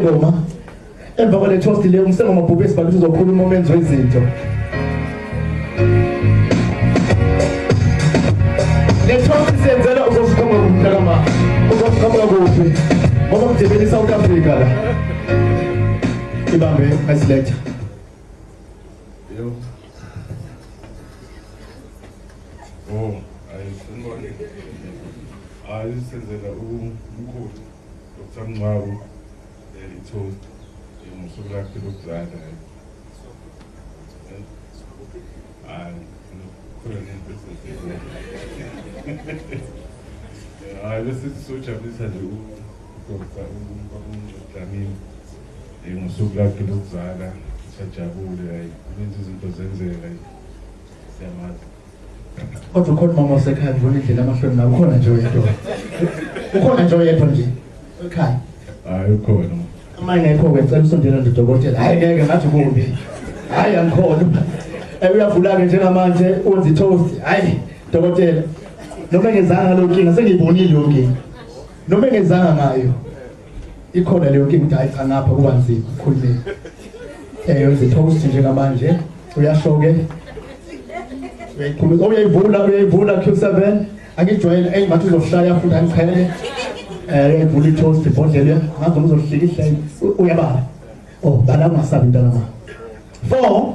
ngoma emva kwale toast le umsengo mabhubhe sibabisa uzokhuluma umenzi wezinto le toast senzela uzosikhomba kumntakama uzosikhomba kuphi ngoba kudebela i-south africa la ibambe asiletha Oh, I see. I see that. Oh, Dr Mncwabu leli thu ngosuku lakhe lokuzala hayi khona nento esizile hayi bese sisojabulisa nje udokta uDlamini ngosuku lakhe lokuzala sajabule hayi kuninzi izinto zenzeka siyamazi Kodwa ukhona umama osekhaya ngibona indlela amahloni nawe ukhona nje oyedwa. Ukhona nje oyedwa nje. Ekhaya. Hayi ukhona. Uma ngekho ngicela usondela ndodokotela. Hayi ngeke ngathi kumbi. Hayi angikhona. Ewe uyavula ke njengamanje wenza toast. Hayi dokotela. Noma ngezanga lo nkinga sengiyibonile yonke. Noma ngezanga ngayo. ikhona leyo nkinga ukuthi ayica ngapha kuba nzima ukhulumeni um eh, wenza i-post njengamanje uyasho-ke uyayikhuluma uyayivula uyayivula q seven angijwayele eyi ngathi uzoshaya futhi angiqhele um eh, uyayivula i-toast ibhodlele ngazi noma uzohlika ihlele uyabala o oh, bala ungasabi mntanama four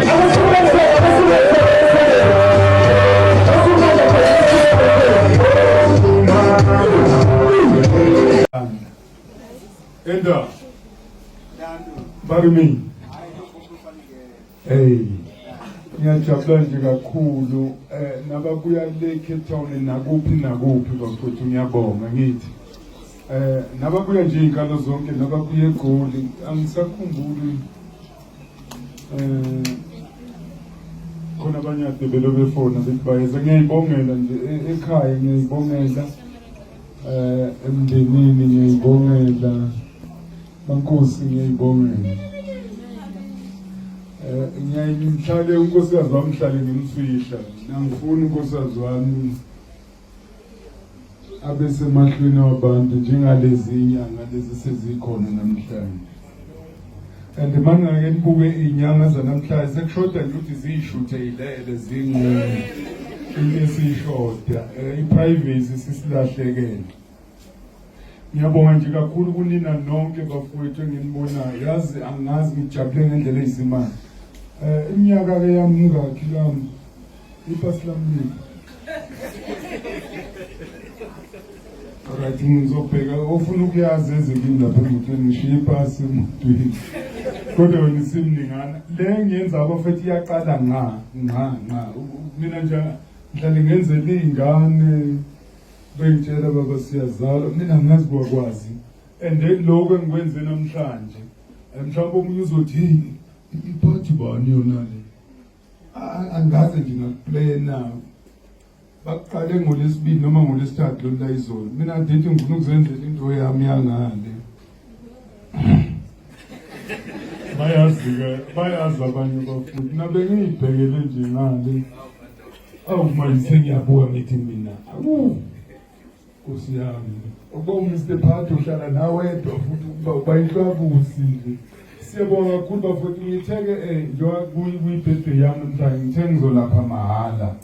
Enda. Barumi. Hey. Ngiyajabula nje kakhulu eh nababuya le Cape Town nakuphi nakuphi bafuthu ngiyabonga ngithi. Eh nababuya nje inkalo zonke nababuya eGoli angisakhumbuli um khona abanye ade belobefona bethi bayeza ngiyayibongela nje e-, ekhaya ngiyayibongela um emndenini ngiyayibongela bankosi ngiyayibongela um ngiyaye ngimhlale unkosikazi wami hlale ngimfihla nangifuni unkosikazi wami abesemahlweni wabantu njengalezi inyanga lezi sezikhona namhlanje and mangake nibuke iy'nyanga zanamhlanje sekushoda nje ukuthi ziyishutheyilele zinqunu into esiyishoda um eh, i-privacy sisilahlekele Ngiyabonga nje kakhulu kunina nonke bafowethu enginibonayo yazi angazi ngijabule ngendlela eyizimali eh iminyaka ke yamuka kilami ipasi lami right ngizobheka ofuna ukuyazi ezikini lapha emotweni ngishiye ipasi emotweni kodwa wena isimningana le ngiyenza abafethu iyaqala nqa nqa nqa mina nje ngihlale ngenzela iy'ngane Bengitshela baba siyazalwa mina ngazi kwakwazi and then lokho engikwenze namhlanje mhlawumbe omunye uzothi yini iphathi bani yona le angaze nje ngakuplaya nawo bakuqale ngolesibili noma ngolesithathu lolu layizolo mina ndithi ngifuna ukuzenzela into yami yangale bayazi-ke bayazi abanye abafundi nabengiyibhekele nje ngale awu manje sengiyabuka ngithi mina awu nkosi yami ukuba umr phat uhlala nawedwa futhi ukuba ubayihlwabusi nje siyabonga kakhulu bafowethu ngithe-ke um eh, njengoba kuyibhede yami mntana ngithe ngizolapha mahhala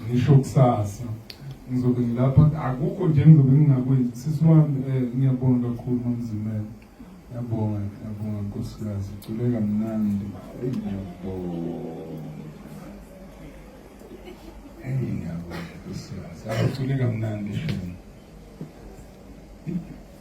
ngisho kusasa ngizobe ngilapha akukho nje ngizobe ngingakwenzi sisi wami um eh, ngiyabonga kakhulu mamzimela yabonga yabonga nkosikazi culeka mnandi eyi ngiyabonga nkosikazi aculeka mnandi shona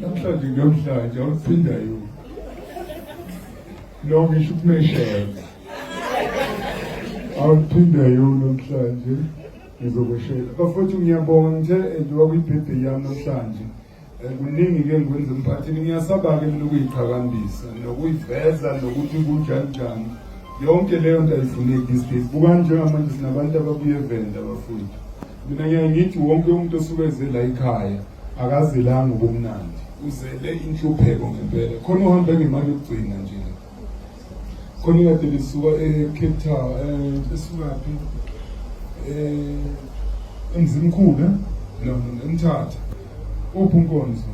Namhlanje ngiyomhlanje awuphinda yini? Lo ngisho ukumeshela. Awuphinda yini namhlanje? Ngizokweshela. Bafowethu ngiyabonga ngithe endiwa kwibhebhe yami namhlanje. Eh, kuningi ke ngikwenza emphakathini ngiyasaba-ke mina ukuyiqhakambisa nokuyiveza nokuthi kunjani njani yonke leyo nto ayifuneki these days bukani njengamanje sinabantu ababuye evenda abafundi Mina ngiye ngithi wonke umuntu osuke ezela ikhaya akazelanga ubumnandi uzele inhlupheko ngempela khona uhambe ngemali yokugcina nje khona ikade lisuka e-cape town um esukaphi um eh, emzimkhulu eh? no emthatha uphi unkonzo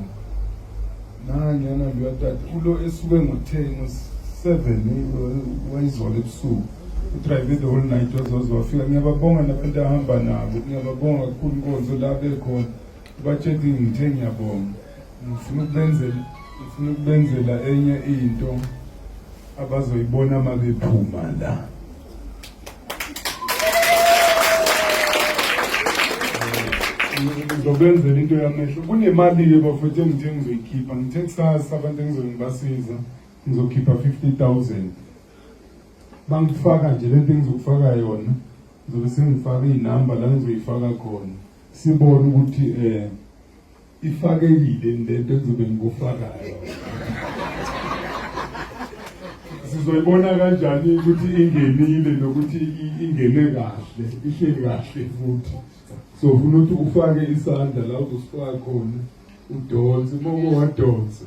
nanyana luyatata ulo esuke ngo-ten ngo-seven wayizwala ebusuku udrive the whole night wazoze wafika ngiyababonga nabantu ahamba nabo ngiyababonga kakhulu inkonzo la bekhona ubatsheli ngithe ngiyabonga ngifuna ukubenzela ngifuna ukubenzela enye into abazoyibona uma bephuma la ngizobenzela into yamehlo kunemali-ke bafuthe ngithe ngizoyikhipha ngithe kusasa abantu engizobe ngibasiza ngizokhipha 50000 bangifaka nje lento engizokufaka yona ngizobe sengifaka iy'namba la ngizoyifaka khona sibone ukuthi um Ifakekile lento engizobe ngikufakayo. Sizoyibona kanjani ukuthi ingenile nokuthi ingene kahle, ihleli kahle futhi. So ufuna ukuthi ufake isandla la uzosifaka khona udonse uma uwadonsa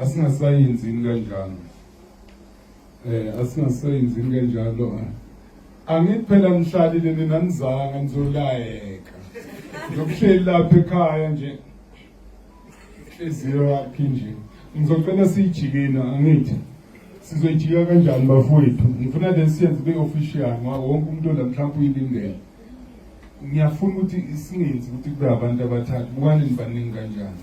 asingasayenzini kanjalo eh asingasayenzini kanjalo angithi phela nihlalile nina nizanga nizolayeka ngiyokuhleli lapha ekhaya nje inhliziyo yakhe nje ngizocela siyijikina angithi sizoyijika kanjani bafowethu ngifuna le siyenze kube official ngoba wonke umuntu la mhlawumbe uyilindele ngiyafuna ukuthi singenzi ukuthi kube abantu abathathu bukani nibaningi kanjani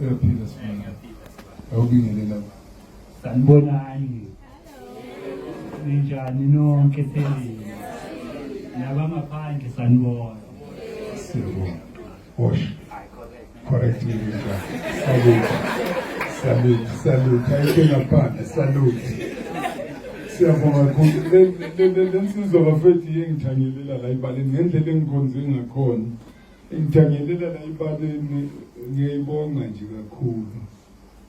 Uyaphila sibona. Awubingelela. Sanibonani. Ninjani nonke selini. Nabangaphandle sanibona. Siyabonga. Wash. Correct me Mika. Salute. Salute, salute. Ayikela phansi, salute. Siyabonga kakhulu. Le nsizwa bafethu yengithanyelela la ibaleni ngendlela engikhonze ngakhona. Ngithanyelela la ibaleni ngiyayibonga nje kakhulu.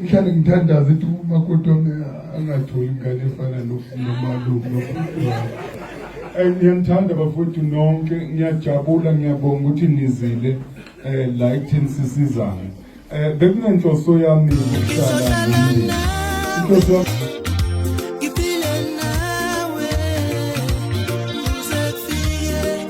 ngihlale ngithandaza ukuthi umakoti wami angatholi ingane efana nomalume nobhuti wami Eh, ngiyanithanda bafowethu nonke ngiyajabula ngiyabonga ukuthi nizile eh la ekutheni sisizane eh bekunenhloso yami ukuhlala nomndeni inhloso yami Ngiphile nawe, uze kufike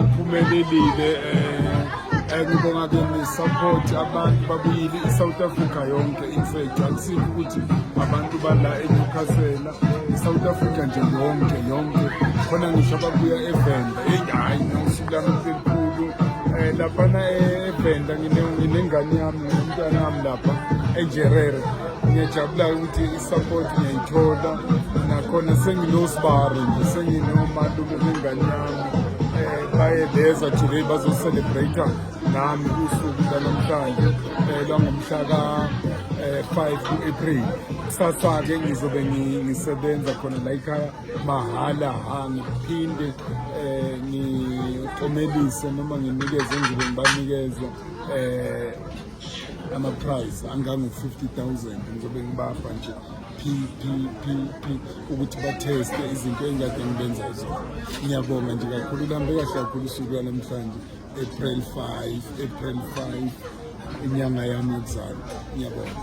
Uphumelelile eh, eh ngibonga ke ni support abantu babuyile i South Africa yonke in fact akusikho ukuthi abantu bala eNewcastle i South Africa nje yonke yonke khona ngisho ababuya eVenda hey hayi usuku lami elikhulu eh laphana eVenda ngine nginengane yami nomntwana wami lapha eNjerere ngiyajabula ukuthi i-support ngiyayithola nakhona senginosibari nje senginomalume bengane yami baye beza today bazocelebrate nami usuku lanamhlanje eh, lwangomhla ka-5 eh, ku-april kusasa-ke ngizobe ngisebenza khona la ikhaya mahhala ha ngiphinde um ngikomelise noma nginikeze engizobe ngibanikeza um ama-prize angango-50 000 ngizobe ngibapha nje ukuthi batheste izinto engikade ngibenza zona ngiyabonga nje kakhulu kuhambe kahle kakhulu usuku lwanamhlanje april 5 april 5 inyanga yami yokuzalwa ngiyabonga